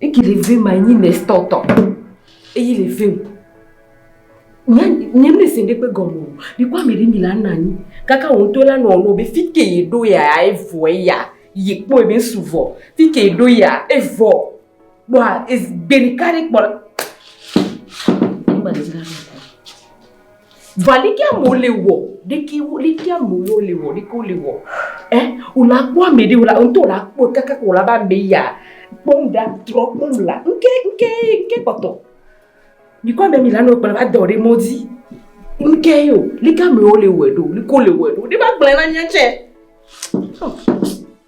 Eki le ve ma nyi ne stɔ tɔ. Eyi le ve. Nya nye me se ɖe kpe gɔme o. Mi kɔ ame ɖe mi la na nyi. Kaka wo ŋutɔ la nɔ no be fike ye ɖo ya evɔ ya. Ye kpɔ ebe su vɔ. Fike ye ɖo ya evɔ. Bɔa ez gbe ɖeka ɖe kpɔ la. Ema ɖe zra ɖo. Vɔ leke amewo le wɔ, leke leke amewo le wɔ, leke wole wɔ. Eh, wòla kpɔ ame ɖe wòla ŋutɔ wòla kpɔ kaka ko wòla be ame ya kpɔ nu ɖa trɔ kpɔ nu la ŋke ŋke ŋke kpɔtɔ. Mi kɔ ame mi la nɔ kplɔ va dɔ ɖe mɔ dzi. Ŋke yo, leke amewo le wɔ ɖo, leke wole wɔ ɖo. Ne va gblɔe na mía tsɛ.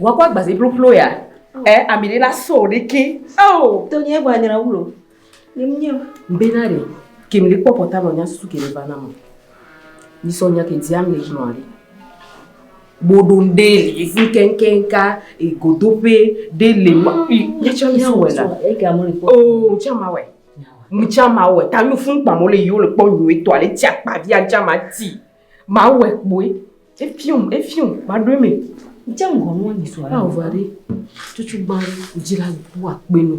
Wakɔ agbazi bloplo ya. Ɛ eh, ami ɖe la so ɖiki. Ao. To nye gba nyra wulo. Nye mnye. Mbena ɖe. Kemi ɖe kpɔkpɔ ta nɔ nya susu kemi va na mo. Ni sɔ nya kenti ami ɖe gblɔ aɖe. Boɖo ɖe li vu kenkenka egodoƒe ɖe le ma. Nye tsɔ mi sɔ wɛ la. Ega mo le kpɔ. Oo, tsɔ ma wɛ. Mtsa ma wɛ. Ta mi fun kpa mo le yiwo le kpɔ nyuetɔ ale tia kpa via tsama ti. Ma wɛ kpoe. Efium, efium, maɖoe me. Dze ŋgɔ nua nyi sɔ. Awo va ɖe tutu gba dzi la bu akpe no.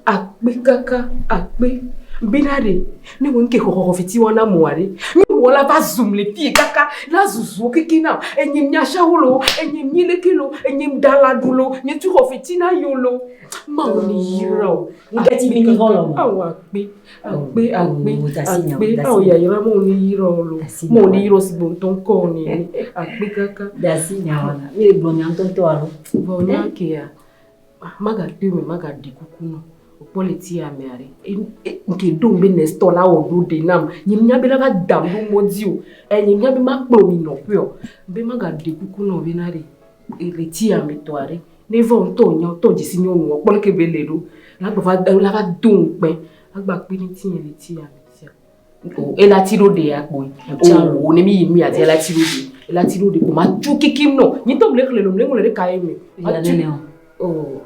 Akpe kaka, akpe. Be na ɖe, ne wo nke xɔxɔxɔ fiti wɔna mɔa ɖe. Mi wɔ la va zum le fie kaka, la zuzuo keke na. Enye mi ashawo lo, enye mi leke lo, enye mi da la ɖu lo, nye tu xɔ fiti na yo lo. Mawu ni yira o. Ŋdeti bi ni hɔlɔ. Awo akpe. Akpe, akpe, akpe, ao yayra mo ni yirɔ lo, mo ni yirɔ si gbɔntɔ ŋkɔ ni akpe kaka. Dasi nyawa, mi le gbɔnya ŋtɔtɔ alo. Vɔ nya kea, maga to me, maga ɖi kuku nɔ, okpɔ le ti ame aɖe. Nke do be next tɔ la wɔ ɖo ɖe nam, nye nya be la va da ɖo mɔ di o, e nye nya be ma kplɔ mi nɔ ƒe o, be maga ɖi kuku nɔ be na ɖe, ele ti ame tɔ aɖe, Ne vɔ ŋtɔ wò nyɔ tɔ djisi nyɔ wò kpɔ leke be le ɖo la gba va ela va do ŋ kpɛ la gba kpi ni ti yeli ti ya o ela ti ɖo ɖe akpo yi o o ne mi yi mi ya di ela ti ɖo ɖe ela ti ɖo ɖe kpo ma tsu kiki nɔ nyi tɔ mle xle lo mle ŋlɔ ɖe ka ye me ma tsu o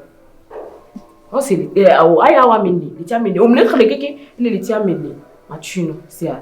ɔ se li ɛ o aya wa mi ni li ti ya mi ni o mle xle keke ne li ti ya mi ni ma tsu nɔ se ya.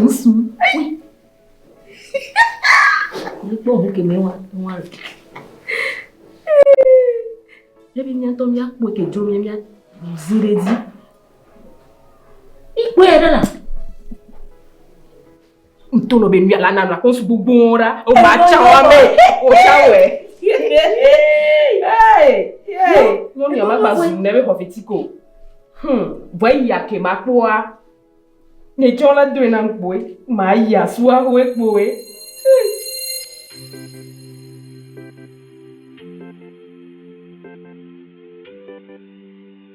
Ŋusu. Wokpɔ ŋu kemɛ wa wa. Ebi miatɔ miakpɔ ke dzo mia mia zi ɖe dzi. Ikpɔe ɖe la. Ŋutɔ nɔ be nuya la nanɔ akpɔ sugbogbowo ɖa. Wova tsã wa me. Wotsã wɔe. Nyɔnua magba zu ne be xɔ fiti ko. Hm, vɔ eyi ake ma kpɔa. Ne tsɔ la doe na kpoe. Ma yi asua hoe kpoe.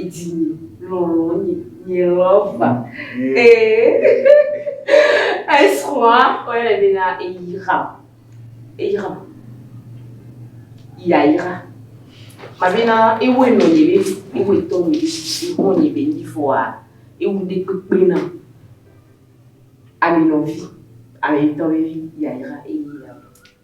Idzinye lɔlɔ̃nye nye lɔva ee esrɔ̃a woyɔnɛ bena eyra eyra yayra mabena ewoe nɔ nye be ewoe tɔ nye be sisi xɔ nye be nyi fɔa ewu ɖe kpekpe na ame nɔvi ame ŋutɔ be yayra eye yayra.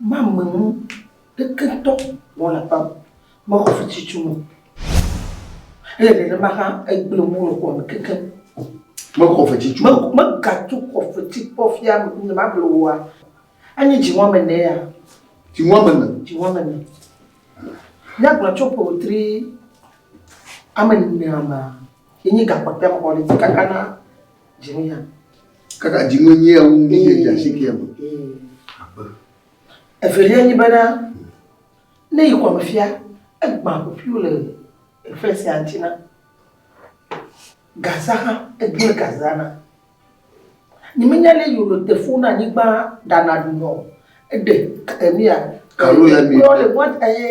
Mamenu kekeŋtɔ wɔ le aƒe mexɔ fititu me. Ele nenema hã egblẽ ŋu le xɔ me kekeŋ. Mexɔ fetitu. Me, megatu xɔ feti kpɔ fia nye magblẽ wòa. Enye dzi wɔme ene ya. Dzi wɔme ene. Dzi wɔme ene. Míagblɔ tso ƒe wetri ame enea mea, yenye gakpɔtɔe mexɔ ɖe dzi kakana Dzimu ya. Kaka dzimu nyi ya wu nyi dza si kia me. Evelia nyi bena ne yi kɔme fia egbã ƒoƒuiwo le efe sia ŋuti na Gaza hã egblẽ Gaza na. Nyemenya ne yi wòle te fu na anyigba ɖana ɖunɔ eɖe emia. Kalo ya mi. Kplɔ le mɔt eye.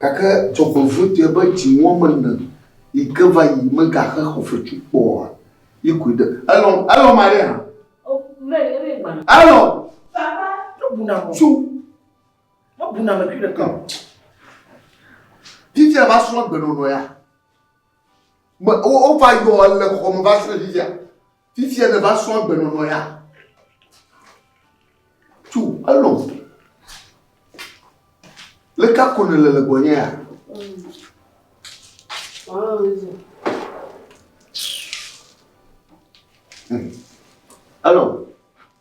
Gake dzɔgbevɔ̃e dze be dzi wɔm mele yi ke va yi megaxe xɔfetsu kpɔ oa? Yi koe ɖe. Elɔ, elɔ Maria hã. Elɔ. Baba, mebuna mɔ. Tsu. Mebuna mekui ɖeka o. Fifia va srɔ̃ gbenɔnɔ ya. Me, wo, wova yɔ le xɔ me va srɔ̃ fifia. Fifia ne va srɔ̃ agbenɔnɔ ya. Tso elɔ. Leka ko ne le le gbɔnye ya. Elɔ.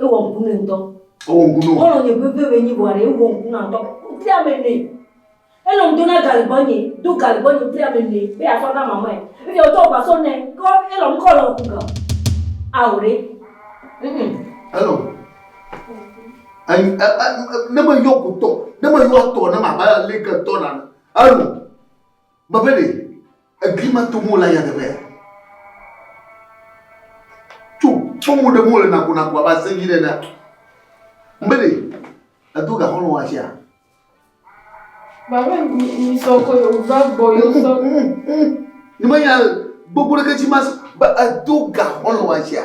Ewɔ ŋku nɛ ŋutɔ. Ewɔ ŋku nɔ. Wole nye veve be nyi bɔa ɖe ewɔ ŋku nɔ ŋutɔ. Wopli ame nɛ. Enɔ ŋdo na gali gbɔ nye, do gali gbɔ nye wopli ame nɛ be yeatsɔ na mamae. Eviɛ wotɔ ŋgba sɔ nɛ ke wo ele ŋku kɔ le ŋku ga. Ao ɖe. Ŋ. Hello. Ne me yɔ gotɔ, ne me yɔ tɔ ne ma ba le ke tɔ na. Hello. Gbe be ɖe egli ma tom wole nyateƒea? Tso kpɔmu ɖem wole nakonaku abe asẽ dzi nene. Be ɖe edo gaxɔ nɔ wasia? Babe mi sɔ ko yo va gbɔ yo sɔ. Ni me nya gbogbo ɖe ke tsi mas ba edo gaxɔ nɔ wasia.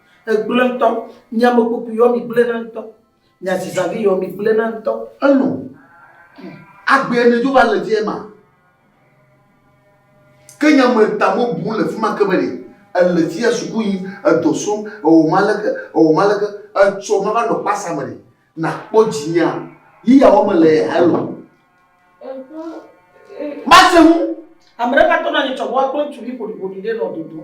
Egblẽ ŋutɔ. Mi ame kpokpui yɔ mi gblẽna ŋutɔ. Mi azizavi yɔ mi gblẽna ŋutɔ. Eno. Agbee ne dzo va le dzi ema. Ke nya me ta mo bu le fima ke be ɖe ele fia suku yi edɔ sɔm ewɔ ma leke ewɔ ma leke etsɔ ma va nɔ kpasa me ɖe na kpɔ dzi nya yi ya wɔ me le hello. Mase ŋu. Ame ɖe va tɔ na nye tsɔ bɔ akpɔ ŋutsuvi ƒoɖiƒoɖi ɖe nɔ dodo.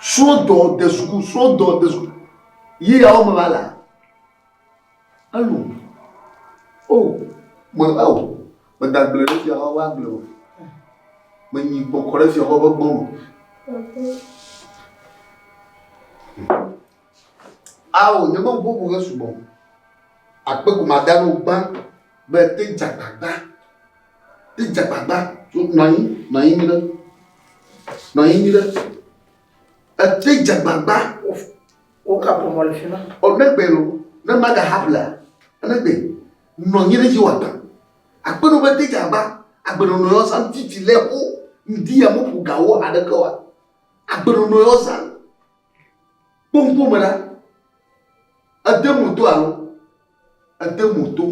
Srɔ̃dɔ de suku, srɔ̃dɔ de suku. Yi ya wo me va la. Alo. O, me ao, me da gble ɖe fia wa gble o. Me nyi kpɔkɔ ɖe fia wa be gbɔ o. Ao nye me ŋuƒoƒo ʋe sugbɔ o. Akpe ko ma da ɖo gbã be te dze agbagba, te dze agbagba. Nɔ anyi, nɔ anyi nyuie ɖe, nɔ anyi nyuie ɖe. Ete dze agbagba. Wo ka ƒomɔ le fima. Ɔ ne gbe lo, ne ma ga ha ƒlea, ne gbe nɔ anyi ɖe dzi wa gba. Akpe no be te dze agba, agbe nɔnɔ yɔ zã titi le ho ŋdi ya me ƒo ga wo ha ɖe ke wa. Agbe nɔnɔ yɔ zã. Kpoŋkpo me la, ede mo to alo ede mo to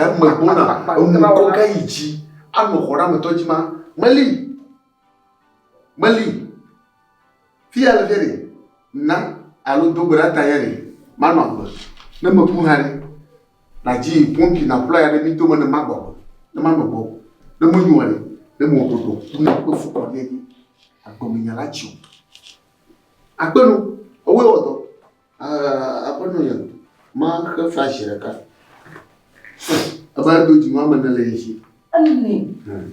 game gbɔna eŋukɔ ga yi dzi anɔ xɔ ɖe ametɔ dzi ma meli meli fia le fia ɖe na alo dogbe ɖa ta ya ɖe manɔ agbe ne meku ha ɖe Na dzi pompi naƒlɔ ya ɖe mí dome ne magbɔ agbe, ne manɔ gbɔ o, ne menyo anyi ne mewɔ ɖoɖo ku na woƒe fukɔɖia dzi agbemenye la dzi o. Akpe nu, ewɔe wɔ dɔ. Aa, Aƒenɔ nye, maxe fla zi ɖeka. Eva do dzi nu ame ne le ye si. Ene. Hmm.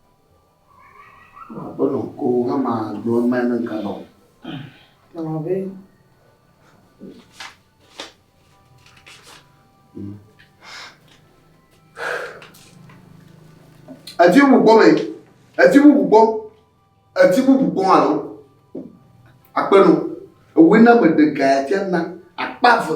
Aƒenɔ ko hama gblɔ mɛ ne ga nɔ. Nɔ be. Eti bubu gbɔ mɛ. Eti bubu gbɔ. Eti bubu gbɔ alɔ. Aƒenɔ. Ewe na me ɖe ga ya tia na akpa ve.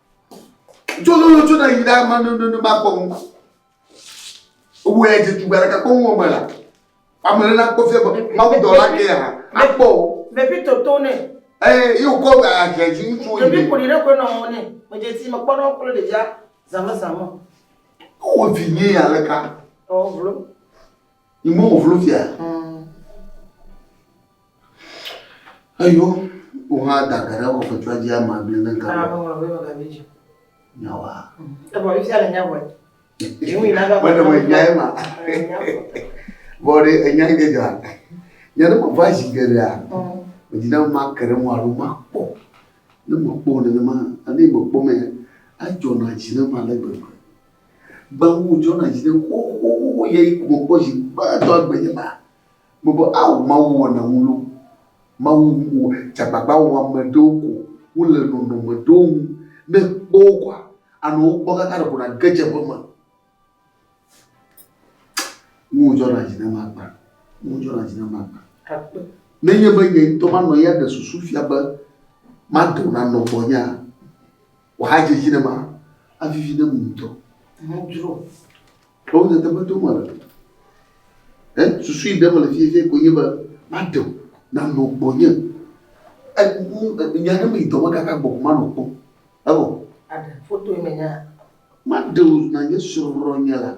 Tso lolo tso na yi ɖa ma no no no ma kpɔ ŋu. Wo ya je tugba ɖeka kpɔ ŋu me la. Ame ɖe na kpɔ fia be ma wo dɔ la ke ya. A kpɔ o. Me bi to to ne. Eh, yo ko a je ji ŋutsu yi. Me bi ko ni ɖe ko na o ne. Me je ti me kpɔ na ko le de ja zame zame. Wo vi nye ya le ka. Oh, vlo. Yi mɔ wò vlo fia. Eyo wò hã da ge ɖe kɔfɛtua dzi ama bli ne ŋkabɔ. Ame ŋlɔ be mega vi dzi. Nyawa. Ebɔ yi fia le nya bɔe. Ŋu yi naga. Mene me nya ye ma. Vɔ ɖe enya yi ke dzɔa. Nya ɖe me va zi geɖea. Medzi na ma ke ɖe ŋu alo ma kpɔ. Ne mekpɔ nenema ne mekpɔ mɛ edzɔna dzi ne ma le gbegbe. Gbãwó wodzrɔ na dzi ɖe xoxoxoxo yɛ yi gome kpɔ zi gbãtɔ egbe nye ma. Me be, Ao Mawu wɔna ŋu loo. Mawu wɔ dzagbagbaɔame ɖewo ko wole nɔnɔme ɖewo ŋu. Ne èkpɔ wo kɔa, ànɔ wo kpɔ kaka ɖeko nàge dze eƒe me. Ŋu wodzrɔ na dzi ne ma gbã. Ŋu wodzrɔ na dzi ne ma gbã. Akpe. Ne nye be nye ŋutɔ manɔ ya ɖe susu fia be, Mado nanɔ gbɔnyea? Wòadze edzi ne ma, avivi ne mu ŋutɔ. Nadzro. Ɖewo nye teƒe tom wòle. Ɛ susu yi ɖe me le fiefie ko nye be maɖe o, nanɔ gbɔnye. Ɛ nya ɖe me yi dɔ me kaka gbɔ ko manɔ kpɔ. Evɔ. Aɖe foto yi me nya. Maɖe o na nye srɔ̃ nye la.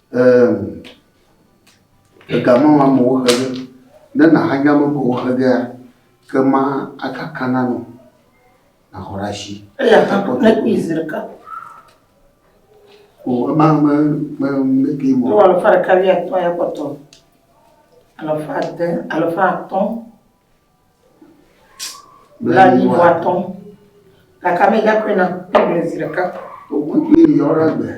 Eemm ega ma ma me woxe ge ne na ha nya me ko woxe gea ke ma aka kana no na horashi eya ka ko ne ki zirka ko ma me me me ki mo to alfa ka ya to ya ko to alfa de alfa to la yi vɔ atɔ gake ame ya koe na kpɔgblẽ zi ɖeka wòkukui yi yɔ ɖe gbe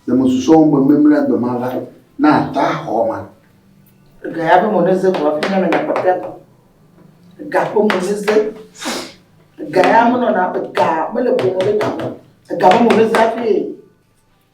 le mesusɔ wo me memle gbe ma va na ata xɔ ma ga ya be mo ne ze vɔ fi na me na kpɔfia tɔ ga ko mo ne ze ga ya mo nɔ na ga mele ko mo ne ga ga mo ne za fi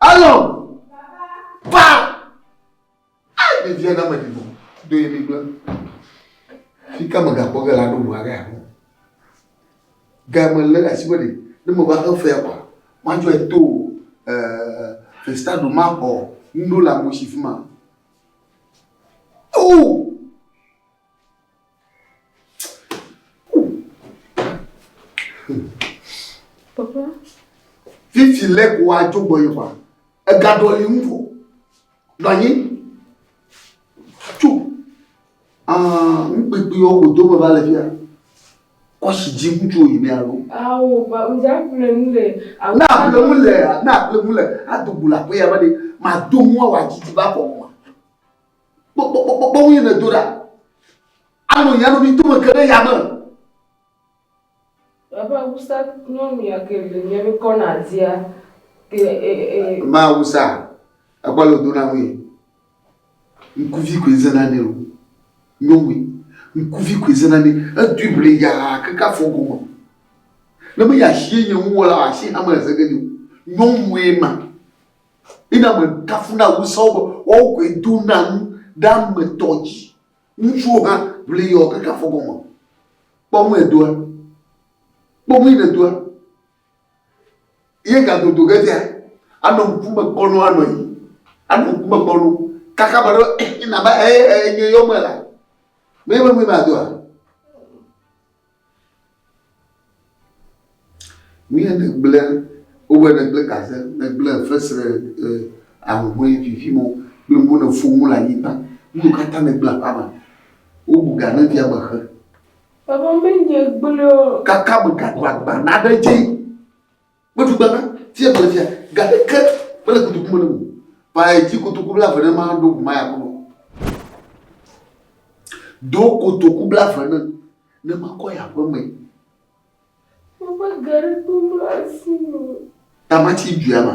Alo! Pa! Ai, ɖevia na meɖi vo. Do ye mi gblẽ. Fi ka megakpɔ ge la ɖo ŋu aɖe aɖo. Ga me lé asi be ɖe ne meva xe fea kɔa, matsɔe to festado maxɔ nuɖo le amewo si fi ma. O! Papa. Vivi lé ko adzo gbɔ yi wa. Ega ɖɔli ŋu vɔ. Nɔ anyi. Tso. Ah, ŋkpekpe yɔ ko do me va le fia. Kɔsi dzi ŋutsu yi me alo. Awo, ba, ŋdza ƒle mu le. Na ƒle mu le, na ƒle mu le. Ado bula ko ya ba de. Ma do mu awa dzi dzi ba kɔ. kpɔkpɔkpɔkpɔkpɔ ŋu nèdo ɖa. Anɔ nye anɔ mi tome ke ɖe yame. Eƒe awusa nyɔnua ke le nye mi kɔ na dia ke e e. e, e. Ma awusa ekɔ le do na ŋue. Ŋkuvi koe zena ne o. Nyɔnue. Ŋkuvi koe zena ne. Edui ble ya keke afɔ gome. Ne me ya si ye nye ŋu wɔla asi hame le zege ni o. Nyɔnue ma. Mina mekafu na ŋusẽ wo be woawo koe dona nu ɖe ame tɔ dzi. Ŋutsuwo hã ʋli yɔ keke afɔ gɔme. Kpɔ nu edoa. Kpɔ nu yi nèdoa. Ye gadodo ge dzea, anɔ ŋkume kpɔ nu anɔ yi. Anɔ ŋkume kpɔ nu. Kaka be ɖo eh, nava eh, eh, nye yɔ me la. Meye me nui madoa? Nuye nègblẽ, wowɔe nègblẽ gaze nègblẽ fesre e ahuhɔ̃e vivi mo kple mo ne fo mo le anyigba. Nuyiwo katã nègblẽ aƒea me, wobu ga ne via me xe. Vavã menye gblẽe o. Kaka megado agba naɖe dzi. Meɖu gbe be, Fia mele fia, ga ɖeke mele kotoku me nam o. Ƒãe dzi kotoku blaeve ne maɖo ŋu maya kpɔ mɔ. Do kotoku blaeve ne ne makɔ yi aƒe me. Woƒe geɖe to mlɔ asi me. Tamatsi dua ma.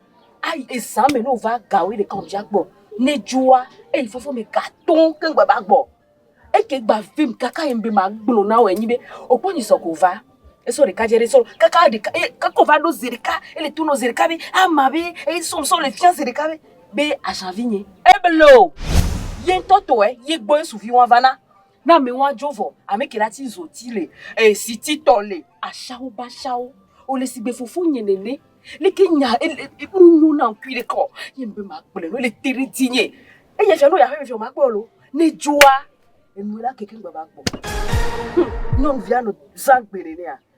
Ayi eza me ne wova ga wuiɖeka alo wòdza gbɔ ne edzua eyi fofoa me gatõ keŋ gba va gbɔ. Eke gba vem kaka yem be magblɔ na wòe nyi be wòkpɔ nyisɔ ko va. Esɔ ɖeka dze ɖe sɔ kaka ɖeka ye kaka wòva ɖo zi ɖeka ele to nɔ zi ɖeka be ama be eyi sɔ sɔ le fia zi ɖeka be be aʒa vinye. Eblo ye ŋutɔ tɔe ye gbɔ Yesu viwo ava na. Na mi wa djo vɔ ame ke la ti zo ti le eh si ti tɔ le. Ashawo ba shawo o le sigbe fofo nye nene le ke nya e le e nu nyo na ŋkui ɖe ke ɔ ye ŋbe ma kple no le te ɖe ti nye e ye fia no ya ƒe me fia ma kpɔ lo ne djoa enu la ke ke ŋgba va kpɔ. Hum nyɔnuvia no zã gbe nenea.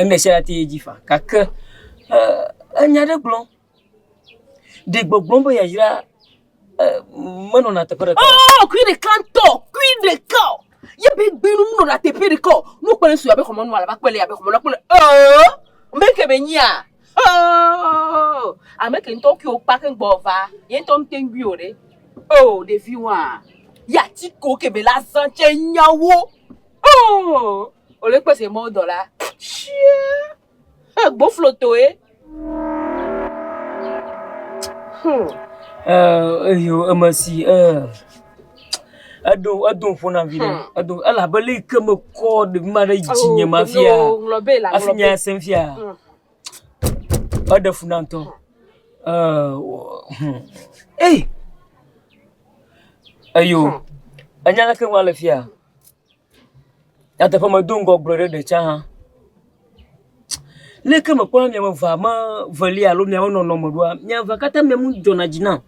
Emesia ya te ye dzi fa gake enya ɖe gblɔm. Ɖe gbɔgblɔm be yayra menɔna teƒe ɖeka. Oh, kui ɖeka ŋutɔ, kui ɖeka. Ye be gbinu menɔna teƒe ɖeka. Nu kpɔe sua be xɔmɔnu alaba kpɔe le abe xɔmɔnu kpɔe. Oh, meke be nyia. Oh, ame ke ŋutɔ kui okpa ke gbɔ va. Ye ŋutɔ ŋutɔ ŋgui o ɖe. Oh, ɖevi wa. Ya ti ko ke be la zã tse nyawo. Oh, ole kpe se mo dɔ la. Shia. Eh, gboflo toe. Hmm. Eh, eyo emasi eh. Edo edo fona vile. Hmm. Edo ela bele ke me ko de ma de ji nye ma fia. Oh, nglo be la nglo. Afinya sem fia. Hmm. Ode fona nto. Hmm. Eh. Hmm. Hey. Ayo. Anyala ke wale fia. Nyateƒe medo ŋgɔ gblɔ ɖe ɖe tsã hã, leke mekpɔna be miame evea meveli alo miawo nɔnɔme ɖoa, mia evea katã mia nu dzɔna dzi nam,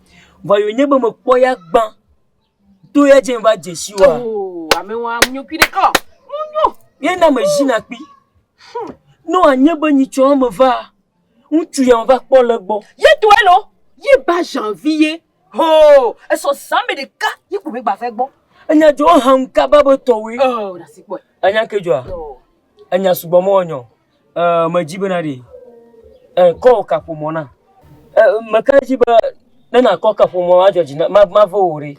vɔ ye wònye be mekpɔ ya gbã, to ya dzi va dze si woa, ye na mezina kpi, ne wòanye be nyitsɔ eme vaa, ŋutsu ya meva kpɔ le egbɔ. Hoo, esɔ zã me ɖeka ye ko megba va egbɔ. Enya dzɔ hã ŋu kaba be tɔwoe. Oh, ɖasi kpɔe. Enya ke dzɔa? Oh. Enya sugbɔ mɔ nyɔ. Eh, medzi bena ɖe. Eh, kɔ wò kaƒomɔ na. Eh, meka edzi be ne nakɔ kaƒomɔ adzɔ dzi na ma ma ve wò ɖe.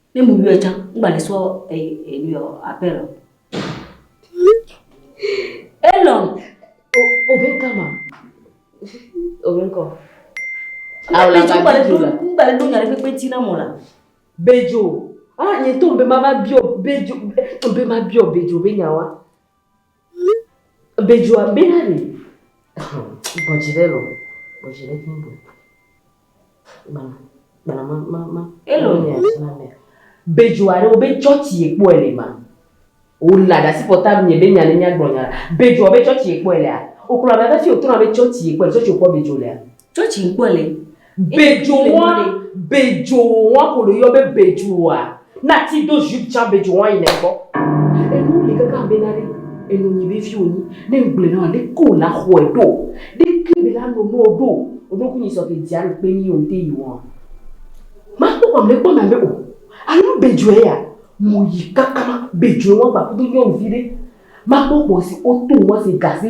Ne mu yɔe can, ŋgba le sɔ enu yɔ apel o. Elɔn, o bɛ ka ma? O bɛ kɔ. Awo la ka bi jo la. Ŋgba le do nya le kpekpe ti na mɔ la. Bejo, ah nye to be ma va biɔ bejo, be ma biɔ bejo be nya wa. Bejua bena ɖi. Bɔdzi ɖe lɔ. Bɔdzi ɖe kí bɔ. Gbana. Gbana ma ma ma. Elo ni a sina mea. Bejua ɖe wo be chɔchi ye kpɔ ele ma. O la da si pɔta mi be nya ne nya gbɔ nya. Bejua be chɔchi ye kpɔ ele a. O kula be da si o tona be chɔchi ye kpɔ ele chɔchi o kpɔ bejo le a. Tsɔ tsi kpɔ le. Bedzowɔa, bedzowɔa ko ɖo yɔ be bedzowɔa. Na ti do jupe tsã bedzowɔa yi ne kpɔ. Enu li kaka be na ɖe enu nyi be fi wonyi. Ne ŋgble na ɖe ko na xɔe ɖo. Ɖe ke be na no no ɖo. Oɖo ku nyi sɔ ke dzia ɖo kpe nyi yon te yi wɔa. Ma kpɔ kpɔ me kpɔ na be o. Anu bedzoe ya. Mo yi kaka bedzoe wɔa gba kudo nyɔnuvi ɖe. Ma kpɔ kpɔ si o to wɔa si gase.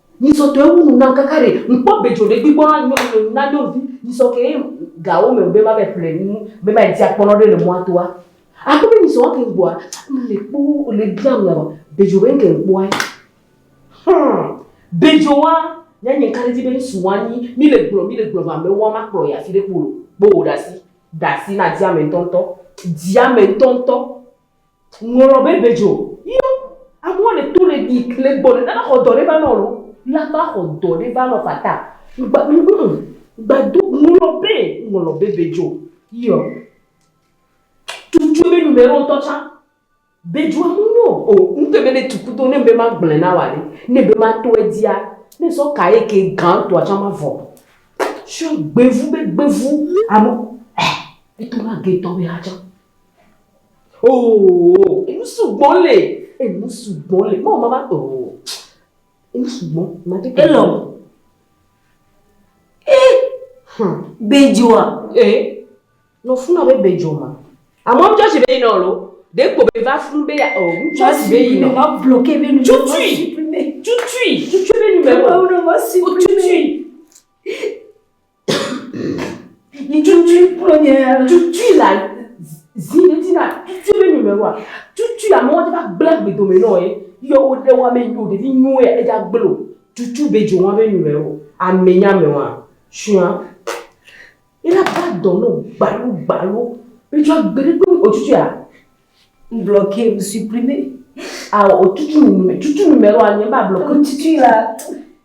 Nyisɔ tɔe wu nu nam kaka ɖe ŋkpɔ bedzo ɖe gbigbo na nyɔnu na nyɔnuvi nyisɔ ke gawo me be ma be ple nu be ma di akpɔnɔ ɖe le mɔa toa. Aku be nyisɔ wa ke ŋgboa me le kpo le bia mu na bedzo be ŋke ŋkpoa. Hmm. Bedzo wa nya nye ŋka ɖe di be ŋsu wa nyi mi le gblɔ mi le gblɔ va me wa ma kplɔ ya fi ɖe kpo kpo wo ɖasi dasi na di ame ŋtɔ ŋtɔ di ame ŋtɔ ŋtɔ. Ŋlɔ be be djo yio amewo le to le yi le gbɔ le nana xɔ dɔ ɖe va nɔ lo la va xɔ dɔ ɖe va nɔ fata ŋgba ŋu ŋgba do ŋlɔ be ŋlɔ be be djo yio tutu be nu me ŋtɔ tsa be djo amewo nyo o ŋtɔ be ne tuku do ne be ma gble na wa ɖe ne be ma to edzia ne sɔ ka ye ke ga ŋtɔa tsa ma vɔ sho gbe vu be gbe vu amewo eh eto na ge tɔ be ha tsa. Oh, enu sugbɔ le. Enu sugbɔ le. Mɔ mama oh. Enu sugbɔ. Mate ke. Elɔ. Eh. Hmm. Bejoa. Eh. No funa be bejo ma. Amɔ ŋjɔ si be ina olo. De kpo be va fun be ya oh. Ŋjɔ si be ina. Ma bloke be nu. Tutui. Tutui. Tutui be nu. Ma bloke be nu. Tutui. Cucui kplɔ nye cucui la zi ŋuti na cucui be nyɔme wa. Cucui la mɔdzi va gblẽ gbe dome nɔ ye. Yɔ wo ɖe wa me nyo ɖevi nyoe ya edza gblẽ o. Cucui be dzo wa be nyɔme wo. Ame nya me wa shua. Ye la va dɔ nɔ gbalo gbalo. Be dzo agbe ɖe kpɔ o cucui ya. Ŋblɔ ke ŋu suprimɛ. Ao o cucui nume cucui nume wa nye ba blɔ ke. Cucui la.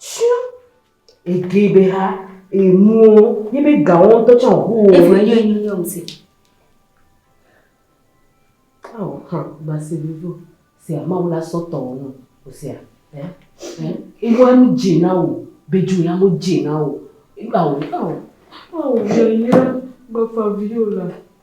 Tsɔ ege be ha emuwo yi be gawo ŋutɔ tsɔ ŋu wo. Evo eyi eyi yɔ ŋusẽ. Awo hã basi vivo se amawo la sɔ tɔ wo no o se a. Ewa nu dzi na wo be ju ya mo dzi na wo. Awo awo awo yɔ yi la gbafa viwo la.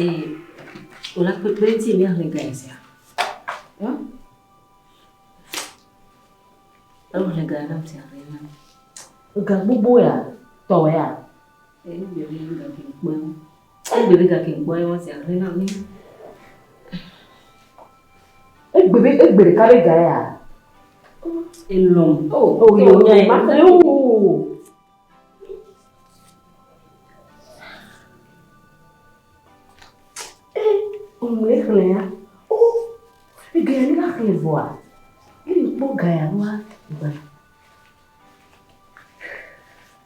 Ee, wòla kpekpe ŋuti míahlẽ ga sia. Hm? Ehlẽ ga nam sia hlẽ nam. Ga gbogbo ya, tɔ ya. Ee, mi le ga kpekpe. Egbe be gake gbɔ ye wɔsi ahle na mi. Egbe be egbe ɖeka be ga ya. Elom. O o yo nya ma se o. Omle xle ya. O ege ya ni la xle vɔa. Ele kpɔ ga ya wa gba.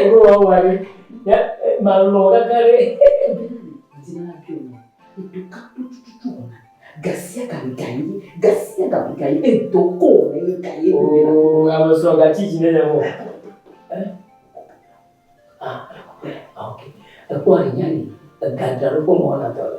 Ogo wa wa ɖe. Ya ma lɔ kaka ɖe. Dina na bi ɔmɔ. Edo ka to tututu ɔna. Gasia ka mi ka yi. Gasia ka mi ka yi. Edo ko ne yi ka yi. Oo, ame sɔ ga tsi dzi ne le mɔ. Ah, ok. Ekpɔ aɖe nya ni. Ega dra ɖo kpɔ mɔ na tɔ le.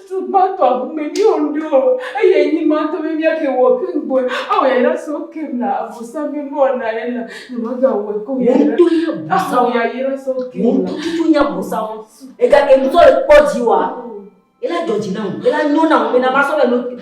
Ŋutsu gbãtɔ ŋumee míewɔ nu ɖo eye nyi gbãtɔ be míake wɔ ke ŋgbɔe awɔ yayra si wokem le Abosam ƒe nuwɔna ye la, nyemagawɔe ko yayra. Wotɔ nye Abosam. Awɔ yayra si wokem la. Wotɔ tutu nye Abosam. Egake ŋutɔ le kpɔ dzi wa. Ela dzɔ dzi nam. Ela nyo nam bena masɔ le no